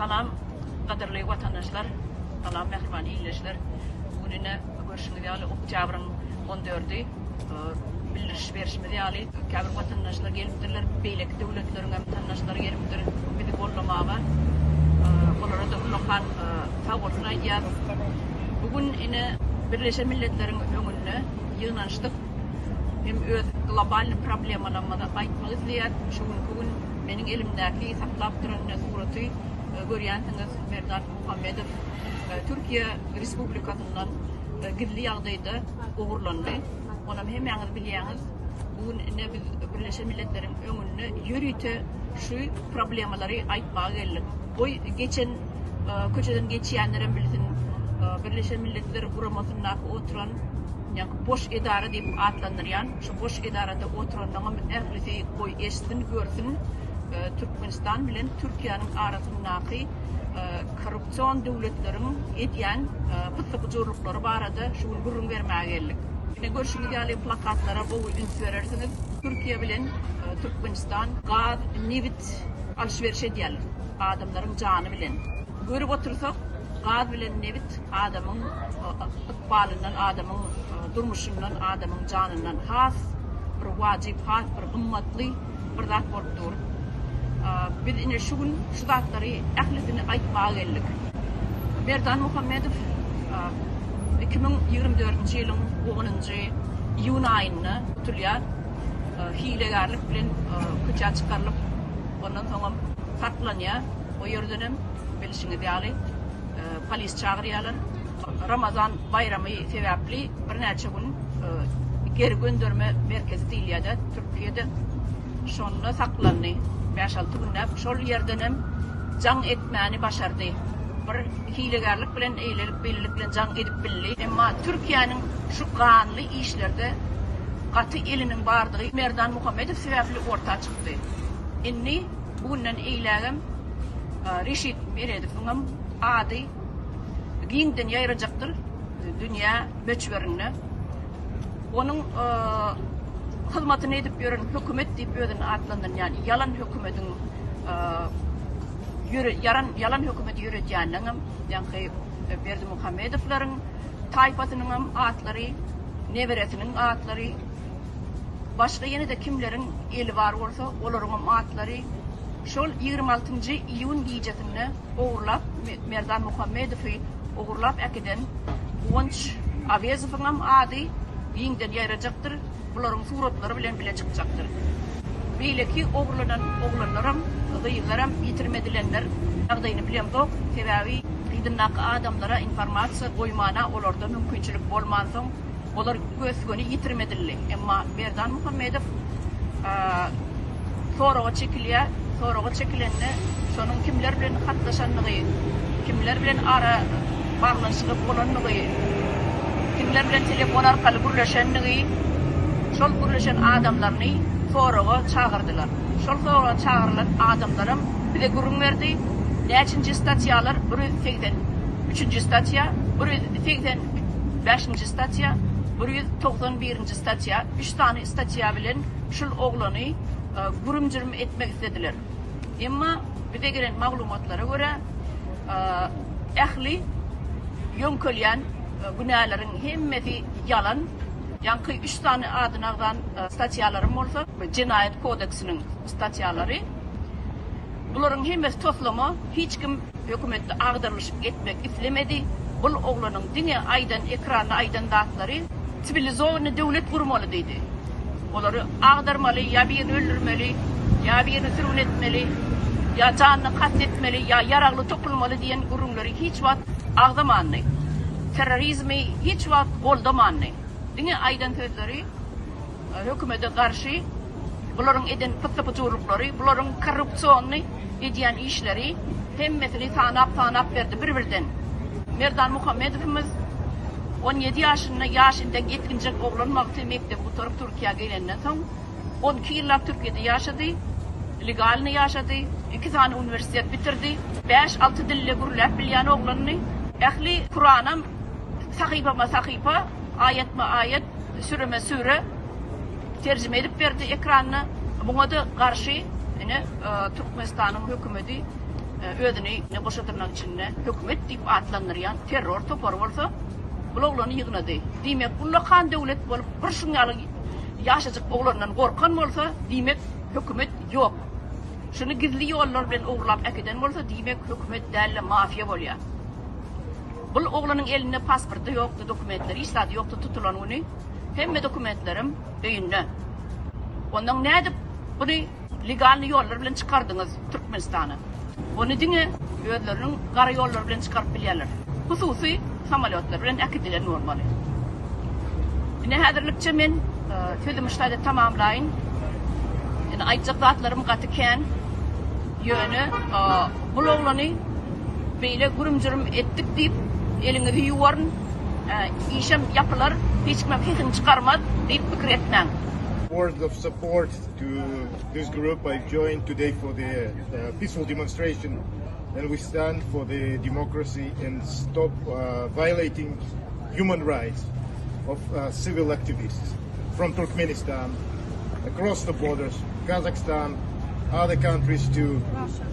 Salam, gadyrly watandaşlar, salam, mähriban ildeşler. Bu gün ine, görşüňiz ýaly, oktýabryň on dördi. Bildiriş berşimiz ýaly, käbir watandaşlar gelipdirler, beýleki döwletleriň hem tandaşlary gelipdir bizi goldamaga. Olara-da ullakan sag bolsun aýdýarys. Bu gün ine Birleşen Milletleriň öňünde ýygnanyşdyk. Hem öz globalnyý problemalarymyzy aýtmak isleýäris. Şu günki gün meniň elimdäki saklap duran ine suraty görýänsiňiz, Merdan Muhammedow Türkiýe Respublikasyndan gizli ýagdaýda, ogurlandy. Onam hemmäňiz bilýäňiz, bu gün ine biz Birleşen Milletleriň öňünde ýörite şu problemalary aýtmaga geldik. Goý, geçen köçeden geçýänlerem bilsin, Birleşen Milletler Guramasynda oturan, ýa-ni boş edara diýip atlandyrýan, şu boş edarada oturanlaryňam ählisi goý eşitsin, görsün, Türkmenistan bilen Türkiýäniň arasyndaky e, korrupsion döwletleriň edýän e, pytly bujurlyklary barada şu gün gürrüň bermäge geldik. Ine görşüňiz ýaly plakatlara gowy üns berersiňiz. Türkiýe bilen e, Türkmenistan gaz, nebit alşyberş edýärler. Adamlaryň jany bilen. Görüp otursak, gaz bilen nebit adamyň ykbalyndan, adamyň durmuşyndan, adamyň janyndan has bir wajyp, has bir gymmatly bir zat bolup dur. Biz ine şu gün şu zatlary ählisini aýtmaga geldik. Merdan Muhammedow iki müň ýigrimi dördünji ýylyň onunjy iýun aýynda tutulýar. Hilegärlik bilen köçä çykarylyp, ondan soňam saklanýar. O ýerden hem bilşiňiz ýaly polis çagyrýarlar. Ramazan baýramy sebäpli birnäçe gün geri gönderme merkezi diýilýärdi Türkiýede. Şonda saklandy bäş-alty günläp. Şol ýerdenem jaň etmäni başardy. Bir hilegärlik bilen eýlelik-beýlelik bilen jaň edip bildi. Emma Türkiýäniň şu ganly işlerde gaty eliniň bardygy Merdan Muhammedow sebäpli orta çykdy. Indi bu günden eýlägem Reşit Meredowyňam ady giňden ýaýrajakdyr dünýä möçberinde. Onuň hyzmatyny edip ýören hökümet diýip özüni atlandyrýan ýalan hökümetiň ýören ýalan hökümeti ýöretýäniniň hem ýaňky Berdimuhamedowlaryň taýpasynyň hem atlary, neberesiniň atlary, başga ýene-de kimleriň eli bar bolsa, olaryň hem atlary, Şol ýigrimi altynjy iýun gijesinde ogurlap, Merdan Muhammedowy ogurlap äkiden Guwanç Awezowyňam ady giňden ýaýrajakdyr, bularyň suratlary bilen bile çykjakdyr. Beýleki ogurlanan oglanlaram, gyzlaram ýitirmedilenler ýagdaýyny bilemzok, sebäbi yzyndaky adamlara informasiýa goýmana olarda mümkinçilik bolmansoň, Olar gös-göni ýitirim edildi. Emma Merdan Muhammedow soraga çekilýär. Soraga çekilende şonuň kimler bilen hatlaşandygy, kimler bilen ara baglanyşygy bolandygy, kimler bilen telefon arkaly gürleşendigi, şol gürleşen adamlaryny soraga çagyrdylar. Şol soraga çagyrylan adamlaram bize gürrüň berdi. Näçinji statýalar, bir ýüz segsen üçünji statýa, bir ýüz segsen Bäşinji statýa, bir ýüz togsan birinji statýa, üç sany statýa bilen şul oglany gürüm-jürüm etmek islediler. Emma bize gelen maglumatlara görä, ähli ýöňkelýän günäleriň hemmesi ýalan. Ýaňky üç sany adyny agzan statýalaryň bolsa, Jenaýat kodeksiniň statýalary. Bularyň hemmesi toslama, hiç kim hökümetde agdarlyşyk etmek islemedi, bul oglanyň diňe aýdan ekranda aýdan zatlary Cwilizowanyny döwlet gurmaly diýdi, olary agdarmaly, ýa birini öldürmeli, ýa birini sürgün etmeli, ýa janyna kast etmeli, ýa ýaragly topulmaly diýen gürrüňleri hiç wagt agzamandy, terrorizmi hiç wagt goldamandy, diňe aýdan sözleri, Hökümede garşy bularyň eden pyssy-pyjurlyklary, bularyň korrupsionny edýän işleri, hemmesini sanap-sanap berdi bir-birden. Merdan Muhammedowymyz on ýedi ýaşynda, ýaş entek ýetginjek oglan wagty mekdebi gutaryp Türkiýä gelenden soň, on iki ýyllap Türkiýede ýaşady, legalnyý ýaşady, iki sany uniwersitet bitirdi, bäş-alty dilde gürläp bilýän oglandy. Ähli Kuranam sahypama-sahypa, aýatma-aýat. Süreme süre terjime edip berdi ekranda. Buňa-da garşy ine Türkmenistanyň hökümeti özüni ne goşa dyrnak içinde hökümet diýip atlandyrýan terror topary bolsa bul oglany ýygnady. Diýmek, ullakan döwlet bolup bir şuň ýaly ýaşajyk oglandan gorkan bolsa, diýmek hökümet ýok. Şuny gizli ýollar bilen ogurlap äkiden bolsa, diýmek hökümet däl-de mafiýa bolýar. Bul oglanyň elinde pasporty ýokdy dokumentleri hiç zady ýokdy tutulan güni hemme dokumentlerim öýünde. Ondan nädip buny legalny ýollar bilen çykardyňyz Türkmenistana. Ony diňe özleriniň gara ýollary bilen çykaryp bilýärler. Hususy samolýotlar bilen äkidilen bolmaly. Ine häzirlikçe men sözümi şu taýda tamamlaýyn. Ine aýtjak zatlarym gaty kän. Ýöne bul oglany Beýle gürüm-jürüm etdik diýip, eliňizi ýuwaryn, işem ýapylar, hiç kimem sesini çykarmaz diýip pikir etmäň. Words of support to this group I joined today for the peaceful demonstration and we stand for the democracy and stop violating human rights of civil activists from Turkmenistan across the borders Kazakhstan other countries to